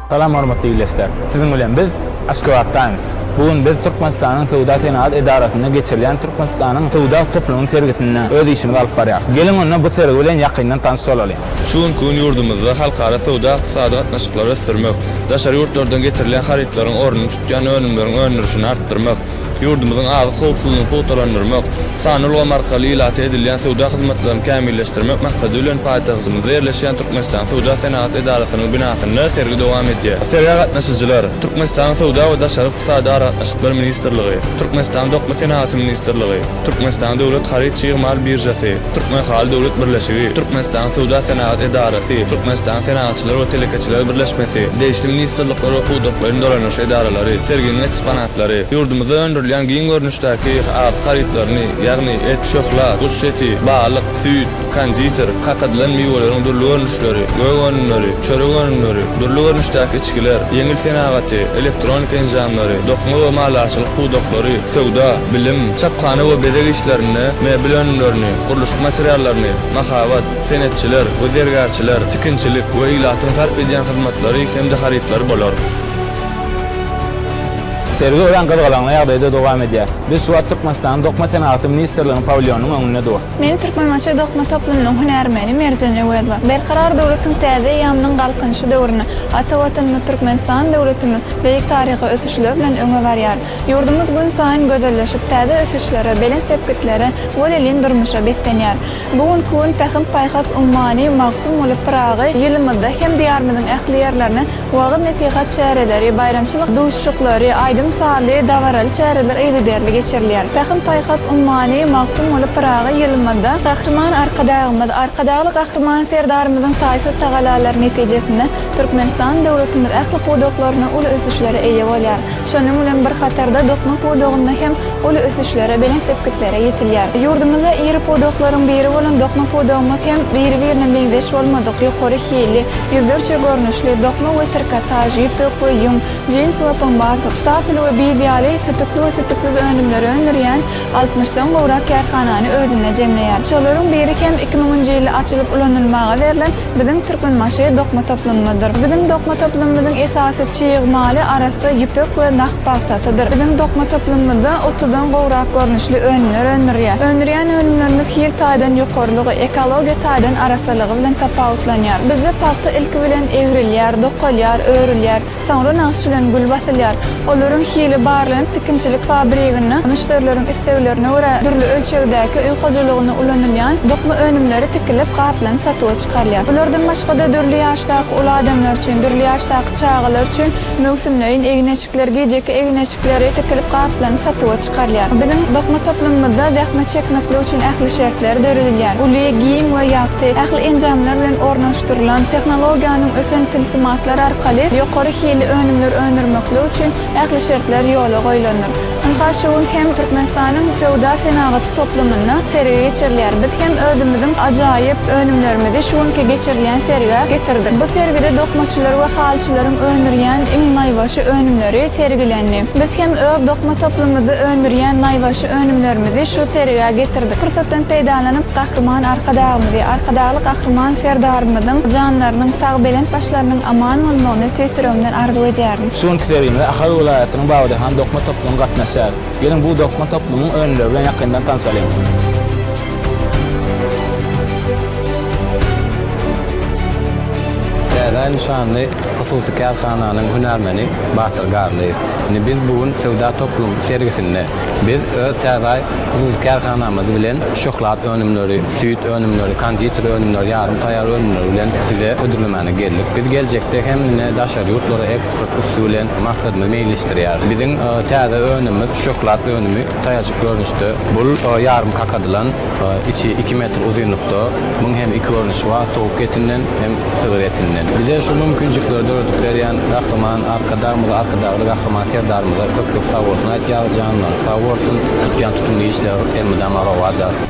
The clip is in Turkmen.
Salam hormatly ildeşler! Siziň bilen biz Aşgabat Times. Bu gün biz Türkmenistanyň Söwda-senagat edarasynda geçirilýän Türkmenistanyň söwda toplumynyň sergisinde öz işimizi alyp barýarys. Geliň onda bu sergi bilen ýakyndan tanyş bolalyň. Şu günki gün ýurdumyzda halkara söwda-ykdysady gatnaşyklary ösdürmek, daşary ýurtlardan getirilýän harytlaryň ornuny tutýan önümleriň öndürişini artdyrmak, Ýurdumyzyň azyk howpsuzlygyny pugtalandyrmak, sanly ulgam arkaly ilata edilýän söwda hyzmatlaryny kämilleşdirmek maksady bilen paýtagtymyzda ýerleşýän Türkmenistan Söwda-senagat edarasynyň binasynda sergi dowam edýär. Sergä gatnaşyjylar Türkmenistanyň Söwda we daşary ykdysady aragatnaşyklar ministrligi, Türkmenistanyň Dokma senagaty ministrligi, Türkmenistanyň Döwlet haryt-çig mal biržasy, Türkmenhaly döwlet birleşigi, Türkmenistanyň Söwda-senagat edarasy, Türkmenistanyň Senagatçylar we telekeçiler birleşmesi, degişli ministrlikler we pudaklaýyn dolanyş edaralary, serginiň eksponatlary, harytlary, ýurdumyzda öndürilýän giň görnüşdäki azyk harytlaryny, ýagny et, şöhla, guş eti, balyk, süýt, konditer, kakadylan miweleriň dürli görnüşleri, gök önümleri, çörek önümleri, dürli görnüşdäki içgiler, ýeňil senagaty, elektronika enjamlary, dokma we malarçylyk pudaklary, söwda, bilim, çaphana we bezeg işlerinde mebel önümlerini, gurluşyk materiallaryny, mahabat, senetçiler we zergärçiler, tikinçilik we ilatyň sarp edýän hyzmatlary hem-de harytlary bolar. Sergi örän gyzgalaňly ýagdaýda dowam edýär. Biz şu wagt Türkmenistanyň Dokma senagaty ministrliginiň pawilýonynyň öňünde durus. Men Türkmenbaşy dokma toplumynyň hünärmeni Merjen Öwezova. Berkarar döwletiň täze eýýamynyň Galkynyşy döwründe ata Watanymyz Türkmenistan döwletimiz beýik taryhy ösüşler bilen öňe barýar. Ýurdumyz günsaýyn gözelleşip, täze ösüşlere, belent sepgitlere, welin durmuşa beslenýär. Bu günki gün Pähim-paýhas ummany magtym bolup Pyragy ýylymyzda hem Diýarymyzyň ähli ýerlerine Wagyz-nesihat çäreleri, baýramçylyk duşuşyklary, aýdym-sazly, dabaraly çäreler yzygiderli geçirilýär. Pähim-paýhas ummany Magtymguly Pyragy ýylymyzda Gahryman Arkadagymyz, Arkadagly Gahryman Serdarymyzyň taýsyz tagallalary netijesinde Türkmenistan döwletimiz ähli pudaklarynda uly ösüşlere eýe bolýar. Şonuň bilen bir hatarda dokma pudagynda hem uly ösüşlere, belent sepgitlere ýetilýär. Ýurdumyzda iri pudaklaryň biri bolan dokma pudagymyz hem biri-birine meňzeş bolmadyk, ýokary hilli, Ýüzlerçe görnüşli, dokma we trikotaž, ýüpek we ýüň, jins we pomad, štapel we biýz ýaly sütükli we sütüksiz önümleri öndürýän altmyşdan gowrak kärhanany özünde jemleýär. Şolaryň biri hem iki müňünji ýylda açylyp ulanylmaga berlen biziň Türkmenbaşy dokma toplumymyzdyr. Biziň dokma toplumymyzyň esasy çig maly arassa ýüpek we nah. pagtasydyr. Biziň dokma toplumymyzda otuzdan gowrak görnüşli önümler öndürilýär. Öndürýän önümlerimiz hil taýdan ýokarylygy, ekologiýa taýdan arassalygy bilen tapawutlanýar. Bizde pagta ilki bilen egrilýär, dokalýar, örülýär, soňra nagyş bilen gül basylýar. Olaryň hili barlanyp, tikinçilik fabriginde müşderileriň isleglerine görä dürli ölçegdäki öý hojalygynda ulanylýan dokma önümleri tikilip, gaplanyp satuwa çykarylýar. Bulardan başga-da dürli ýaşdaky uly adamlar üçin, dürli ýaşdaky çagalar üçin Möwsümleýin egin-eşikler gijeki egin-eşikleri tikilip gaplaryny satuwa çykarýar. Biziň dokma toplumymyzda zähmet çekmeklik üçin ähli şertler döredilýär. Uly, giň we ýagty, ähli enjamlar bilen ornaşdyrylan, tehnologiýanyň ösen tilsimatlar arkaly ýokary hilli önümler öndürmeklik üçin ähli şertler ýola goýlandyr. Ynha şu gün hem Türkmenistanyň söwda-senagaty toplumynda sergi geçirilýär. Biz hem özümiziň ajaýyp önümlerimizi şu günki geçirilýän sergä getirdik. Bu sergide dokmaçylar we halyçylaryň öndürýän iň naýbaşy önümleri sergilendi. Biz hem öz dokma toplumymyzda öndürýän naýbaşy önümlerimizi şu sergä getirdik. Pursatdan peýdalanyp, Gahryman Arkadagymyzy, Arkadagly Gahryman Serdarymyzyň janlarynyň sag, belent başlarynyň aman bolmagyny tüýs ýüregimden arzuw edýärin. Şu günki sergimize Ahal welaýatynyň Munuň badyna hem dokma toplumy gatnaşýar. Geliň, bu dokma toplumyň önümleri bilen ýakyndan tanşalyň. Täze nyşanly hususy kärhananyň hünärmeni Batyr Garlyýew. Ine, biz bu gün söwda toplum sergisinde. Biz öz täze hususy kärhanamyz bilen şöhlat önümleri, süýt önümleri, konditer önümleri, ýarym taýýar önümleri bilen size hödürlemäne geldik. Biz geljekde hem ine daşary ýurtlara Köp üsti bilen maksadymy meýilleşdirýär. Biziň täze önümimiz şöhlat önümi taýajyk görnüşde. Bul ýarym kakadylan, içi iki metr uzynlykda. Muň hem iki görnüşi bar, towuk etinden hem sygyr etinden. Bize şu mümkinçilikleri döredip berýän Gahryman Arkadagymyza, Arkadagly Gahryman Serdarymyza köp köp sag bolsun aýtýarys, janlary sag bolsun, tutýan tutumly işleri elmydama rowaç alsyn.